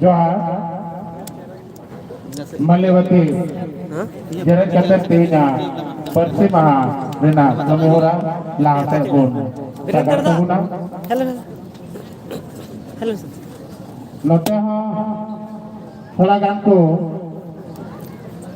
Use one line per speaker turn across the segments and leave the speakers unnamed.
ᱡᱚᱦᱟᱨ ᱢᱟᱞᱮᱵᱟᱛᱤ ᱡᱮᱨᱮᱫ ᱠᱟᱛᱮ ᱛᱮᱦᱮᱧᱟᱜ ᱯᱟᱹᱨᱥᱤ ᱢᱟᱦᱟ ᱨᱮᱱᱟᱜ ᱠᱟᱹᱢᱤ ᱦᱚᱨᱟ ᱞᱟᱦᱟ ᱥᱮᱫ ᱵᱚᱱ ᱥᱟᱜᱟᱲ ᱛᱟᱵᱚᱱᱟ ᱱᱚᱛᱮ ᱦᱚᱸ ᱛᱷᱚᱲᱟ ᱜᱟᱱ ᱠᱚ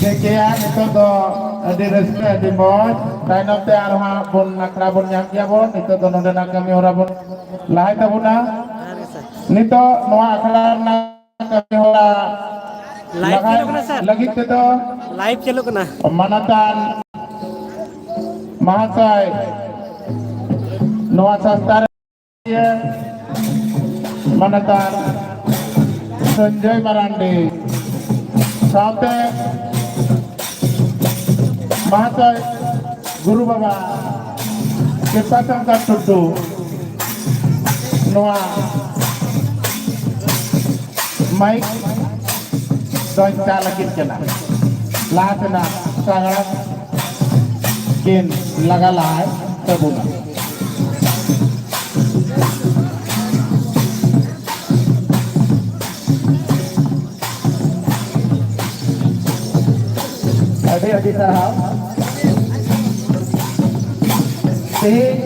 ᱴᱷᱤᱠᱜᱮᱭᱟ ᱱᱤᱛᱚᱜ ᱫᱚ ᱟᱹᱰᱤ ᱨᱟᱹᱥᱠᱟᱹ ᱟᱹᱰᱤ ᱢᱚᱡᱽ ᱛᱟᱭᱱᱚᱢ ᱛᱮ ᱟᱨᱚ ᱦᱟᱸᱜ ᱵᱚᱱ ᱟᱠᱷᱲᱟ ᱵᱚᱱ ᱧᱟᱢ ᱜᱮᱭᱟ ᱵᱚᱱ ᱱᱤᱛᱚᱜ ᱫᱚ ᱱᱚᱰᱮᱱᱟᱜ ᱠᱟᱹᱢᱤ ᱦᱚᱨᱟ ᱵᱚᱱ ᱞᱟᱦᱟᱭ ᱛᱟᱵᱚᱱᱟ ᱡᱚᱦᱟᱨ ᱜᱮ ᱥᱟᱨ ᱱᱤᱛᱚᱜ ᱱᱚᱣᱟ ᱟᱠᱷᱲᱟ ᱨᱮᱱᱟᱜ ᱠᱟᱹᱢᱤ ᱦᱚᱨᱟ ᱞᱟᱭᱤᱵᱷ ᱞᱟᱦᱟᱭ ᱪᱟᱹᱞᱩᱜ ᱠᱟᱱᱟ ᱥᱟᱨ ᱞᱟᱹᱜᱤᱫ ᱛᱮᱫᱚ ᱞᱟᱭᱤᱵᱷ ᱪᱟᱹᱞᱩᱜ ᱠᱟᱱᱟ ᱢᱟᱱᱚᱛᱟᱱ ᱢᱟᱦᱟᱥᱚᱭ ᱱᱚᱣᱟ ᱥᱚᱝᱥᱛᱷᱟ ᱨᱮ ᱤᱭᱟᱹ ᱢᱟᱱᱚᱛᱟᱱ ᱥᱚᱧᱡᱚᱭ ᱢᱟᱨᱟᱱᱰᱤ ᱥᱟᱶᱛᱮ ᱢᱟᱦᱟᱥᱚᱭ ᱜᱩᱨᱩ ᱵᱟᱵᱟ ᱠᱨᱤᱯᱟ ᱥᱟᱱᱛᱟᱲ ᱴᱩᱰᱩ ᱱᱚᱣᱟ ᱢᱟᱭᱤᱠ ᱫᱚᱧ ᱪᱟ ᱞᱟᱹᱜᱤᱫ ᱠᱟᱱᱟ ᱞᱟᱦᱟ ᱛᱮᱱᱟᱜ ᱥᱟᱜᱟᱲ ᱠᱤᱱ ᱞᱟᱜᱟ ᱞᱟᱦᱟᱭ ᱛᱟᱵᱚᱱᱟ ᱟᱹᱰᱤ ᱟᱹᱰᱤ ᱥᱟᱨᱦᱟᱣ ᱛᱮᱦᱮᱧ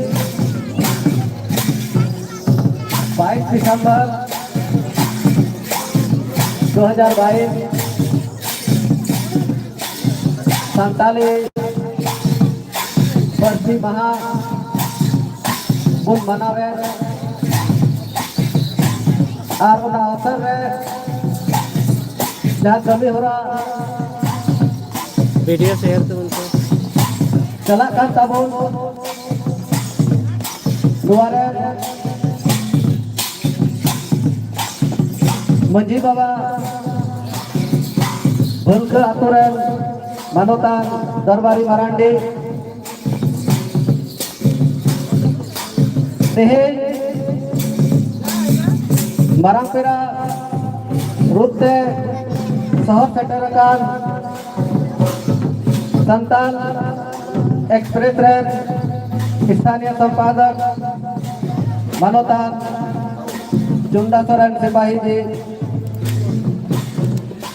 ᱵᱟᱭᱤᱥ ᱰᱤᱥᱮᱢᱵᱚᱨ ᱫᱩ ᱦᱟᱡᱟᱨ ᱵᱟᱭᱤᱥ ᱥᱟᱱᱛᱟᱞᱤ ᱯᱟᱹᱨᱥᱤ ᱢᱟᱦᱟ ᱵᱚᱱ ᱢᱟᱱᱟᱣᱮᱫ ᱟᱨ ᱚᱱᱟ ᱚᱛᱚᱨ ᱨᱮ ᱡᱟᱦᱟᱸ ᱠᱟᱹᱢᱤ ᱦᱚᱨᱟ ᱵᱷᱤᱰᱤᱭᱳ ᱥᱮᱭᱟᱨ ᱛᱟᱵᱚᱱ ᱯᱮ ᱪᱟᱞᱟᱜ ᱠᱟᱱ ᱛᱟᱵᱚᱱ ᱱᱚᱣᱟ ᱨᱮ ᱢᱟᱺᱡᱷᱤ ᱵᱟᱵᱟ ᱵᱷᱟᱹᱞᱠᱟᱹ ᱟᱛᱳ ᱨᱮᱱ ᱢᱟᱱᱚᱛᱟᱱ ᱫᱚᱨᱵᱟᱨᱤ ᱢᱟᱨᱟᱱᱰᱤ ᱛᱮᱦᱮᱧ ᱢᱟᱨᱟᱝ ᱯᱮᱲᱟ ᱨᱩᱯ ᱛᱮ ᱥᱚᱦᱚᱨ ᱥᱮᱴᱮᱨ ᱟᱠᱟᱱ ᱥᱟᱱᱛᱟᱞ ᱮᱠᱥᱯᱨᱮᱥ ᱨᱮᱱ ᱥᱛᱷᱟᱱᱤᱭ ᱥᱚᱢᱯᱟᱫᱚᱠ ᱢᱟᱱᱚᱛᱟᱱ ᱪᱩᱱᱰᱟ ᱥᱚᱨᱮᱱ ᱥᱤᱯᱟᱦᱤ ᱡᱤ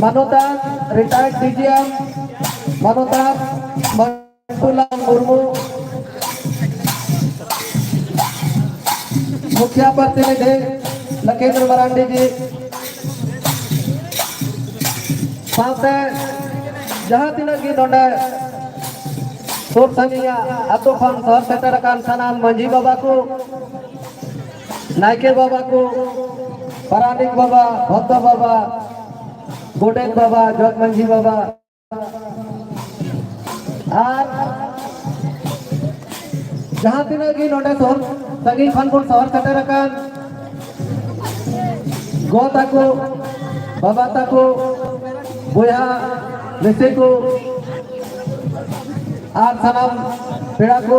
ᱢᱟᱱᱚᱛᱟᱱ ᱨᱤᱴᱟᱭᱟᱨᱰ ᱰᱤ ᱡᱤ ᱮᱢ ᱢᱟᱱᱚᱛᱟᱱ ᱢᱟᱱᱴᱩᱞᱟᱞ ᱢᱩᱨᱢᱩ ᱢᱩᱠᱷᱤᱭᱟ ᱯᱨᱚᱛᱤᱱᱤᱫᱷᱤ ᱞᱚᱠᱷᱮᱱᱫᱨᱚ ᱢᱟᱨᱟᱱᱰᱤ ᱡᱤ ᱥᱟᱶᱛᱮ ᱡᱟᱦᱟᱸ ᱛᱤᱱᱟᱹᱜ ᱜᱮ ᱱᱚᱰᱮ ᱥᱩᱨ ᱥᱟᱺᱜᱤᱧᱟᱜ ᱟᱛᱳ ᱠᱷᱚᱱ ᱥᱚᱦᱚᱨ ᱥᱮᱴᱮᱨ ᱟᱠᱟᱱ ᱥᱟᱱᱟᱢ ᱢᱟᱺᱡᱷᱤ ᱵᱟᱵᱟ ᱠᱚ ᱱᱟᱭᱠᱮ ᱵᱟᱵᱟ ᱠᱚ ᱯᱟᱨᱟᱱᱤᱠ ᱵᱟᱵᱟ ᱵᱷᱚᱛᱛᱚ ᱵᱟᱵᱟ ᱜᱚᱰᱮᱛ ᱵᱟᱵᱟ ᱡᱚᱜᱽ ᱢᱟᱺᱡᱷᱤ ᱵᱟᱵᱟ ᱟᱨ ᱡᱟᱦᱟᱸ ᱛᱤᱱᱟᱹᱜ ᱜᱮ ᱱᱚᱰᱮ ᱥᱚᱦᱚᱨ ᱥᱟᱺᱜᱤᱧ ᱠᱷᱚᱱ ᱵᱚᱱ ᱥᱚᱦᱚᱨ ᱥᱮᱴᱮᱨ ᱟᱠᱟᱱ ᱜᱚ ᱛᱟᱠᱚ ᱵᱟᱵᱟ ᱛᱟᱠᱚ ᱵᱚᱭᱦᱟ ᱢᱤᱥᱤ ᱠᱚ ᱟᱨ ᱥᱟᱱᱟᱢ ᱯᱮᱲᱟ ᱠᱚ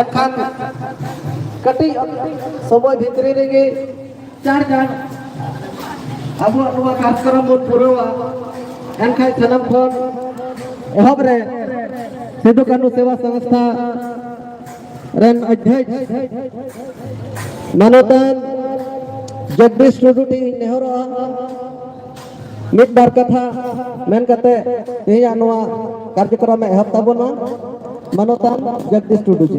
ᱮᱱᱠᱷᱟᱱ ᱠᱟᱹᱴᱤᱡ ᱥᱚᱢᱚᱭ ᱵᱷᱤᱛᱨᱤ ᱨᱮᱜᱮ ᱪᱟᱨ ᱜᱟᱱ ᱟᱵᱚᱣᱟᱜ ᱱᱚᱣᱟ ᱠᱟᱨᱡᱚᱠᱨᱚᱢ ᱵᱚᱱ ᱯᱩᱨᱟᱹᱣᱟ ᱮᱱᱠᱷᱟᱱ ᱥᱟᱱᱟᱢ ᱠᱷᱚᱱ ᱮᱦᱚᱵ ᱨᱮ ᱥᱤᱫᱩ ᱠᱟᱹᱱᱩ ᱥᱮᱵᱟ ᱥᱚᱝᱥᱛᱷᱟ ᱨᱮᱱ ᱚᱫᱷᱭᱚᱠ ᱢᱟᱱᱚᱛᱟᱱ ᱡᱚᱜᱫᱤᱥ ᱴᱩᱰᱩ ᱴᱷᱮᱱ ᱱᱮᱦᱚᱨᱚᱜᱼᱟ ᱢᱤᱫ ᱵᱟᱨ ᱠᱟᱛᱷᱟ ᱢᱮᱱ ᱠᱟᱛᱮ ᱛᱮᱦᱮᱧᱟᱜ ᱱᱚᱣᱟ ᱠᱟᱨᱡᱚᱠᱨᱚᱢ ᱮ ᱮᱦᱚᱵ ᱛᱟᱵᱚᱱᱟ ᱢᱟᱱᱚᱛᱟᱱ ᱡᱚᱜᱽᱫᱤᱥ ᱴᱩᱰᱩ ᱡᱤ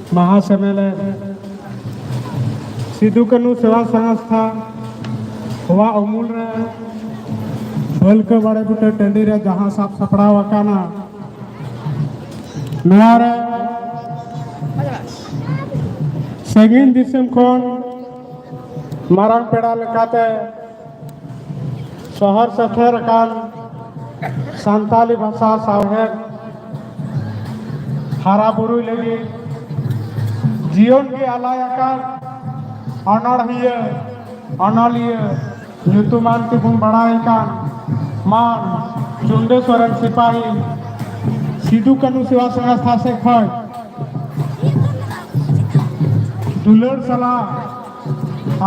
ᱢᱟᱦᱟ ᱥᱮᱢᱮᱞᱮᱫ ᱥᱤᱫᱩ ᱠᱟᱹᱱᱩ ᱥᱮᱵᱟ ᱥᱚᱝᱥᱛᱷᱟ ᱦᱚᱣᱟ ᱩᱢᱩᱞ ᱨᱮ ᱵᱟᱹᱞᱠᱟᱹ ᱵᱟᱲᱮ ᱵᱩᱴᱟᱹ ᱴᱟᱺᱰᱤ ᱨᱮ ᱡᱟᱦᱟᱸ ᱥᱟᱵ ᱥᱟᱯᱲᱟᱣ ᱟᱠᱟᱱᱟ ᱱᱚᱣᱟ ᱨᱮ ᱥᱟᱺᱜᱤᱧ ᱫᱤᱥᱚᱢ ᱠᱷᱚᱱ ᱢᱟᱨᱟᱝ ᱯᱮᱲᱟ ᱞᱮᱠᱟᱛᱮ ᱥᱚᱦᱚᱨ ᱥᱮᱴᱮᱨ ᱟᱠᱟᱱ ᱥᱟᱱᱛᱟᱞᱤ ᱵᱷᱟᱥᱟ ᱥᱟᱶᱦᱮᱫ ᱦᱟᱨᱟ ᱵᱩᱨᱩᱭ ᱞᱟᱹᱜᱤᱫ ᱡᱤᱭᱚᱱ ᱜᱮ ᱟᱞᱟᱭ ᱟᱠᱟᱱ ᱚᱱᱚᱬᱦᱤᱭᱟᱹ ᱚᱱᱚᱞᱤᱭᱟᱹ ᱧᱩᱛᱩᱢᱟᱱ ᱛᱮᱵᱚᱱ ᱵᱟᱲᱟᱭ ᱠᱟᱱ ᱢᱟᱱ ᱪᱩᱱᱰᱟᱹ ᱥᱚᱨᱮᱱ ᱥᱤᱯᱟᱦᱤ ᱥᱤᱫᱩ ᱠᱟᱹᱱᱩ ᱥᱮᱵᱟ ᱥᱚᱝᱥᱛᱷᱟ ᱥᱮᱫ ᱠᱷᱚᱱ ᱫᱩᱞᱟᱹᱲ ᱥᱟᱞᱟᱜ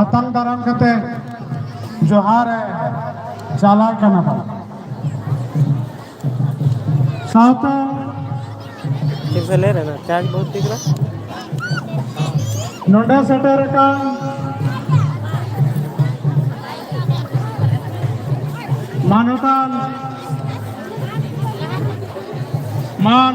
ᱟᱛᱟᱝ ᱫᱟᱨᱟᱢ ᱠᱟᱛᱮ ᱡᱚᱦᱟᱨ ᱮ ᱪᱟᱞᱟᱜ ᱠᱟᱱᱟ ᱵᱚᱱ ᱥᱟᱶᱛᱟ ᱴᱷᱤᱠ ᱥᱮ ᱞᱟᱹᱭ ᱨᱮᱱᱟ ᱪᱟᱨᱡᱽ ᱵᱚᱦᱩᱛ ᱴᱷᱤᱠ ᱨᱟ ᱱᱚᱰᱮ ᱥᱮᱴᱮᱨ ᱟᱠᱟᱱ ᱢᱟᱱᱚᱛᱟᱱ मान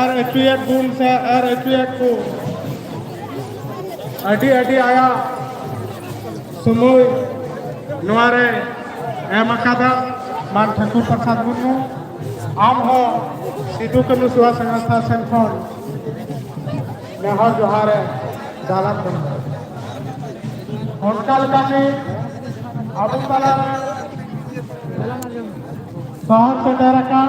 ᱟᱨ ᱟᱹᱪᱩᱭᱮᱫ ᱵᱚᱱ ᱥᱮ ᱟᱨ ᱟᱹᱪᱩᱭᱮᱫ ᱠᱚ ᱟᱹᱰᱤ ᱟᱹᱰᱤ ᱟᱭᱟᱜ ᱥᱚᱢᱚᱭ ᱱᱚᱣᱟ ᱨᱮ ᱮᱢ ᱟᱠᱟᱫᱟ ᱢᱟᱱ ᱴᱷᱟᱹᱠᱩᱨ ᱯᱨᱚᱥᱟᱫᱽ ᱢᱩᱨᱢᱩ ᱟᱢ ᱦᱚᱸ ᱥᱤᱫᱩ ᱠᱟᱹᱱᱩ ᱥᱮᱵᱟ ᱥᱚᱝᱥᱛᱷᱟ ᱥᱮᱱ ᱠᱷᱚᱱ ᱱᱮᱦᱚᱨ ᱡᱚᱦᱟᱨ ᱮ ᱪᱟᱞᱟᱜ ᱠᱟᱱᱟ ᱚᱱᱠᱟ ᱞᱮᱠᱟᱛᱮ ᱟᱵᱚ ᱛᱟᱞᱟᱨᱮ ᱥᱚᱦᱚᱨ ᱥᱮᱴᱮᱨ ᱟᱠᱟᱱ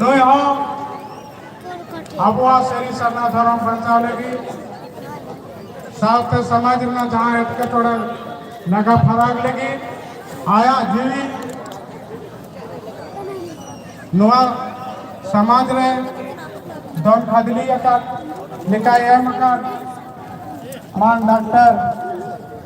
ᱱᱩᱭ ᱦᱚᱸ ᱟᱵᱚᱣᱟᱜ ᱥᱟᱹᱨᱤ ᱥᱟᱨᱱᱟ ᱫᱷᱚᱨᱚᱢ ᱵᱟᱧᱪᱟᱣ ᱞᱟᱹᱜᱤᱫ ᱥᱟᱶᱛᱮ ᱥᱚᱢᱟᱡᱽ ᱨᱮᱱᱟᱜ ᱡᱟᱦᱟᱸ ᱮᱴᱠᱮᱴᱚᱬᱮ ᱞᱟᱜᱟ ᱯᱷᱟᱨᱟᱠ ᱞᱟᱹᱜᱤᱫ ᱟᱭᱟᱜ ᱡᱤᱣᱤ ᱱᱚᱣᱟ ᱥᱚᱢᱟᱡᱽ ᱨᱮ ᱫᱚᱱ ᱠᱷᱟᱫᱽᱞᱤ ᱟᱠᱟᱫ ᱞᱮᱠᱟᱭ ᱮᱢ ᱟᱠᱟᱫ ᱢᱟᱱ ᱰᱟᱠᱛᱟᱨ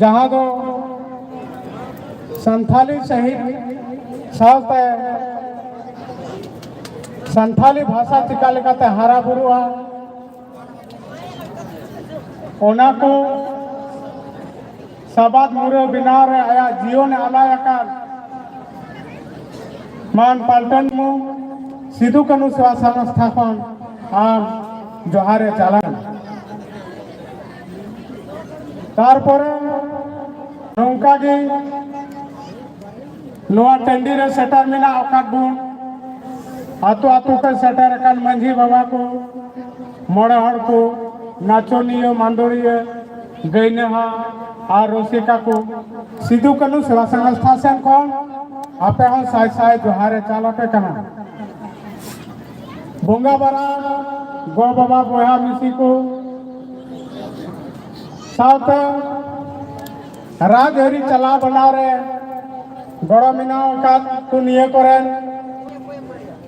ᱡᱟᱦᱟᱸ ᱫᱚ ᱥᱟᱱᱛᱷᱟᱞᱤ ᱥᱟᱹᱦᱤᱛ ᱥᱟᱶᱛᱮ ᱥᱟᱱᱛᱷᱟᱞᱤ ᱵᱷᱟᱥᱟ ᱪᱤᱠᱟ ᱞᱮᱠᱟᱛᱮ ᱦᱟᱨᱟ ᱵᱩᱨᱩᱜᱼᱟ ᱚᱱᱟ ᱠᱚ ᱥᱟᱵᱟᱫ ᱢᱩᱨᱟᱹ ᱵᱮᱱᱟᱣ ᱨᱮ ᱟᱭᱟᱜ ᱡᱤᱭᱚᱱᱮ ᱟᱞᱟᱭ ᱟᱠᱟᱫ ᱢᱟᱱ ᱯᱟᱞᱴᱚᱱ ᱢᱩ ᱥᱤᱫᱩ ᱠᱟᱹᱱᱩ ᱥᱮᱵᱟ ᱥᱚᱝᱥᱛᱷᱟ ᱠᱷᱚᱱ ᱟᱢ ᱡᱚᱦᱟᱨᱮ ᱪᱟᱞᱟᱜ ᱛᱟᱨᱯᱚᱨᱮ ᱱᱚᱝᱠᱟ ᱜᱮ ᱱᱚᱣᱟ ᱴᱟᱺᱰᱤ ᱨᱮ ᱥᱮᱴᱮᱨ ᱢᱮᱱᱟᱜ ᱟᱠᱟᱫ ᱵᱚᱱ ᱟᱛᱳ ᱟᱛᱳ ᱛᱮ ᱥᱮᱴᱮᱨ ᱟᱠᱟᱱ ᱢᱟᱺᱡᱷᱤ ᱵᱟᱵᱟ ᱠᱚ ᱢᱚᱬᱮ ᱦᱚᱲ ᱠᱚ ᱱᱟᱪᱚᱱᱤᱭᱟᱹ ᱢᱟᱱᱫᱚᱲᱤᱭᱟᱹ ᱜᱟᱹᱭᱱᱟᱦᱟ ᱟᱨ ᱨᱩᱥᱤᱠᱟ ᱠᱚ ᱥᱤᱫᱩ ᱠᱟᱹᱱᱩ ᱥᱮᱵᱟ ᱥᱚᱝᱥᱛᱷᱟ ᱥᱮᱱ ᱠᱷᱚᱱ ᱟᱯᱮ ᱦᱚᱸ ᱥᱟᱭ ᱥᱟᱭ ᱡᱚᱦᱟᱨᱮ ᱪᱟᱞ ᱟᱯᱮ ᱠᱟᱱᱟ ᱵᱚᱸᱜᱟ ᱵᱟᱨᱟ ᱜᱚ ᱵᱟᱵᱟ ᱵᱚᱭᱦᱟ ᱢᱤᱥᱤ ᱠᱚ ᱥᱟᱶᱛᱮ ᱨᱟᱡᱽ ᱟᱹᱨᱤ ᱪᱟᱞᱟᱣ ᱵᱟᱱᱟᱣ ᱨᱮ ᱜᱚᱲᱚ ᱢᱮᱱᱟᱜ ᱟᱠᱟᱫ ᱠᱚ ᱱᱤᱭᱟᱹ ᱠᱚᱨᱮᱱ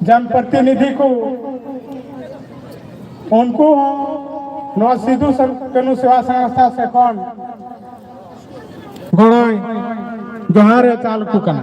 ᱡᱱᱯᱨᱚᱛᱤᱱᱤᱫᱷᱤ ᱠᱚ ᱩᱱᱠᱩ ᱦᱚᱸ ᱱᱚᱣᱟ ᱥᱤᱫᱩ ᱠᱟᱹᱱᱩ ᱥᱮᱵᱟ ᱥᱚᱝᱥᱛᱷᱟ ᱥᱮ ᱠᱷᱚᱱ ᱜᱚᱲᱚᱭ ᱡᱚᱦᱟᱨᱮ ᱪᱟᱞ ᱟᱠᱚ ᱠᱟᱱᱟ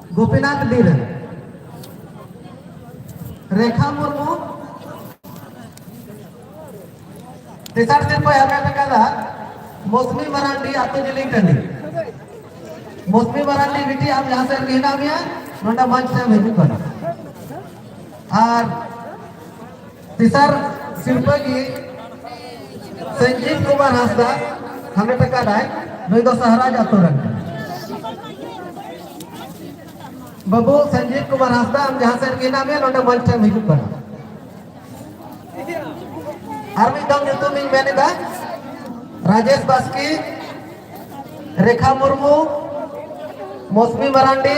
ᱜᱳᱯᱤᱱᱟᱛᱷ ᱰᱤ ᱨᱮ ᱨᱮᱠᱷᱟ ᱢᱩᱨᱢᱩ ᱛᱮᱥᱟᱨ ᱥᱤᱨᱯᱟᱹ ᱦᱟᱢᱮᱴ ᱟᱠᱟᱫᱟ ᱢᱚᱥᱢᱤ ᱢᱟᱨᱟᱱᱰᱤ ᱟᱛᱳ ᱡᱤᱞᱤᱝ ᱴᱟᱺᱰᱤ ᱢᱚᱥᱢᱤ ᱢᱟᱨᱟᱱᱰᱤ ᱵᱤᱴᱤ ᱟᱢ ᱡᱟᱦᱟᱸ ᱥᱮᱫ ᱨᱮᱜᱮ ᱦᱮᱱᱟᱜ ᱢᱮᱭᱟ ᱱᱚᱰᱮ ᱢᱚᱧᱪ ᱥᱮᱫ ᱦᱤᱡᱩᱜ ᱠᱟᱱᱟ ᱟᱨ ᱛᱮᱥᱟᱨ ᱥᱤᱨᱯᱟᱹ ᱜᱮ ᱥᱚᱧᱡᱤᱵ ᱠᱩᱢᱟᱨ ᱦᱟᱸᱥᱫᱟ ᱦᱟᱢᱮᱴ ᱟᱠᱟᱫᱟᱭ ᱱᱩᱭ ᱫᱚ ᱥᱟᱦᱟᱨᱟᱡᱽ ᱟᱛᱳ ᱨᱮᱱ ᱵᱟᱹᱵᱩ ᱥᱚᱧᱡᱤᱵ ᱠᱩᱢᱟᱨ ᱦᱟᱸᱥᱫᱟ ᱟᱢ ᱡᱟᱦᱟᱸ ᱥᱮᱫ ᱨᱮᱜᱮ ᱦᱮᱱᱟᱜ ᱢᱮᱭᱟ ᱱᱚᱰᱮ ᱢᱚᱧᱪ ᱴᱷᱮᱱ ᱦᱤᱡᱩᱜ ᱠᱟᱱᱟ ᱟᱨ ᱢᱤᱫ ᱫᱚᱢ ᱧᱩᱛᱩᱢ ᱤᱧ ᱢᱮᱱ ᱮᱫᱟ ᱨᱟᱡᱮᱥ ᱵᱟᱥᱠᱮ ᱨᱮᱠᱷᱟ ᱢᱩᱨᱢᱩ ᱢᱚᱥᱢᱤ ᱢᱟᱨᱟᱱᱰᱤ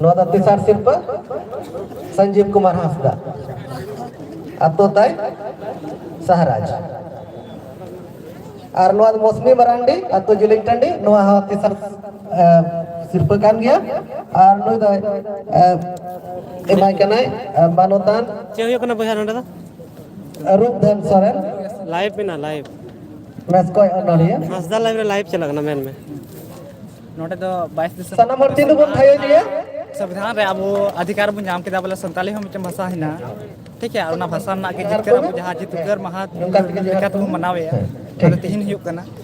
ᱱᱚᱣᱟ ᱫᱚ ᱛᱮᱥᱟᱨ ᱥᱤᱨᱯᱟᱹ ᱥᱚᱧᱡᱤᱵ ᱠᱩᱢᱟᱨ ᱦᱟᱸᱥᱫᱟ ᱟᱛᱳ ᱛᱟᱭ ᱥᱟᱦᱟᱨᱟᱡᱽ ᱟᱨ ᱱᱚᱣᱟ ᱫᱚ ᱢᱚᱥᱢᱤ ᱢᱟᱨᱟᱱᱰᱤ ᱟᱛᱳ ᱡᱤᱞᱤᱝ ᱴᱟᱺᱰᱤ ᱱᱚᱣᱟ ᱦᱚᱸ ᱛᱮᱥᱟᱨ ᱥᱤᱨᱯᱟᱹ ᱠᱟᱱ ᱜᱮᱭᱟ ᱟᱨ ᱱᱩᱭ ᱫᱚ ᱮᱢᱟᱭ ᱠᱟᱱᱟᱭ ᱢᱟᱱᱚᱛᱟᱱ ᱪᱮᱫ ᱦᱩᱭᱩᱜ ᱠᱟᱱᱟ ᱵᱚᱭᱦᱟ ᱱᱚᱰᱮ ᱫᱚ ᱨᱩᱯ ᱫᱷᱮᱱ ᱥᱚᱨᱮᱱ ᱞᱟᱭᱤᱵᱷ ᱢᱮᱱᱟᱜᱼᱟ ᱞᱟᱭᱤᱵᱷ ᱢᱮᱥᱠᱚᱭ ᱚᱱᱚᱞᱤᱭᱟᱹ ᱦᱟᱸᱥᱫᱟ ᱞᱟᱭᱤᱵᱷ ᱨᱮ ᱞᱟᱭᱤᱵᱷ ᱪᱟᱞᱟᱜ ᱠᱟᱱᱟ ᱢᱮᱱ ᱢᱮ ᱱᱚᱰᱮ ᱫᱚ ᱵᱟᱭᱤᱥ ᱫᱤᱥᱚᱢ ᱥᱟᱱᱟᱢ ᱦᱚᱲ ᱛᱤᱱ ᱵᱚᱱ ᱛᱷᱟᱭᱚ ᱜᱮᱭᱟ ᱥᱚᱝᱵᱤᱫᱷᱟᱱ ᱨᱮ ᱟᱵᱚ ᱟᱫᱷᱤᱠᱟᱨ ᱵᱚᱱ ᱧᱟᱢ ᱠᱮᱫᱟ ᱵᱚᱞᱮ ᱥᱟᱱᱛᱟᱞᱤ ᱦᱚᱸ ᱢᱤᱫᱴᱮᱱ ᱵᱷᱟᱥᱟ ᱦᱮᱱᱟᱜᱼᱟ ᱴᱷᱤᱠ ᱜᱮᱭᱟ ᱚᱱᱟ ᱵᱷᱟᱥᱟ ᱨᱮᱱᱟᱜ ᱜᱮ ᱡᱤᱛᱠᱟᱹᱨ ᱟᱵᱚ ᱡᱟᱦᱟᱸ ᱡᱤᱛᱠᱟᱹᱨ ᱢᱟᱦᱟ ᱞᱮᱠᱟᱛᱮᱵᱚᱱ ᱢᱟᱱᱟᱣᱮᱫᱼᱟ ᱛᱤᱦᱤᱧ ᱦᱩᱭᱩᱜ ᱠᱟᱱᱟ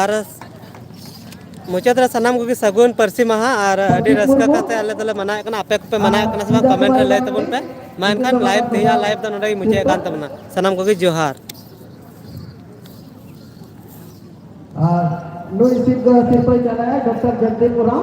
ᱟᱨ ᱢᱩᱪᱟᱹᱫ ᱨᱮ ᱥᱟᱱᱟᱢ ᱠᱚᱜᱮ ᱥᱟᱹᱜᱩᱱ ᱯᱟᱹᱨᱥᱤ ᱢᱟᱦᱟ ᱟᱨ ᱟᱹᱰᱤ ᱨᱟᱹᱥᱠᱟᱹ ᱠᱟᱛᱮ ᱟᱞᱮ ᱫᱚᱞᱮ ᱢᱟᱱᱟᱣᱮᱫ ᱠᱟᱱᱟ ᱟᱯᱮ ᱠᱚᱯᱮ ᱢᱟᱱᱟᱣᱮᱫ ᱠᱟᱱᱟ ᱥᱮ ᱵᱟᱝ ᱠᱚᱢᱮᱱᱴ ᱨᱮ ᱞᱟᱹᱭ ᱛᱟᱵᱚᱱ ᱯᱮ ᱢᱟ ᱮᱱᱠᱷᱟᱱ ᱞᱟᱭᱤᱵᱽ ᱛᱮᱦᱮᱧᱟᱜ ᱞᱟᱭᱤᱵᱽ ᱫᱚ ᱱᱚᱰᱮ ᱜᱮ ᱢᱩᱪᱟᱹᱫ ᱠᱟᱱ ᱛᱟᱵᱚᱱᱟ ᱥᱟᱱᱟᱢ ᱠᱚᱜᱮ ᱡᱚᱦᱟᱨ ᱟᱨ ᱱᱩᱭ ᱥᱤᱨᱯᱟᱹ ᱥᱤᱨᱯᱟᱹᱭ ᱪᱟᱞᱟᱭᱟ ᱰᱚᱠᱴᱚᱨ ᱡᱚᱜᱽᱫᱤᱯ ᱳᱨᱟᱣ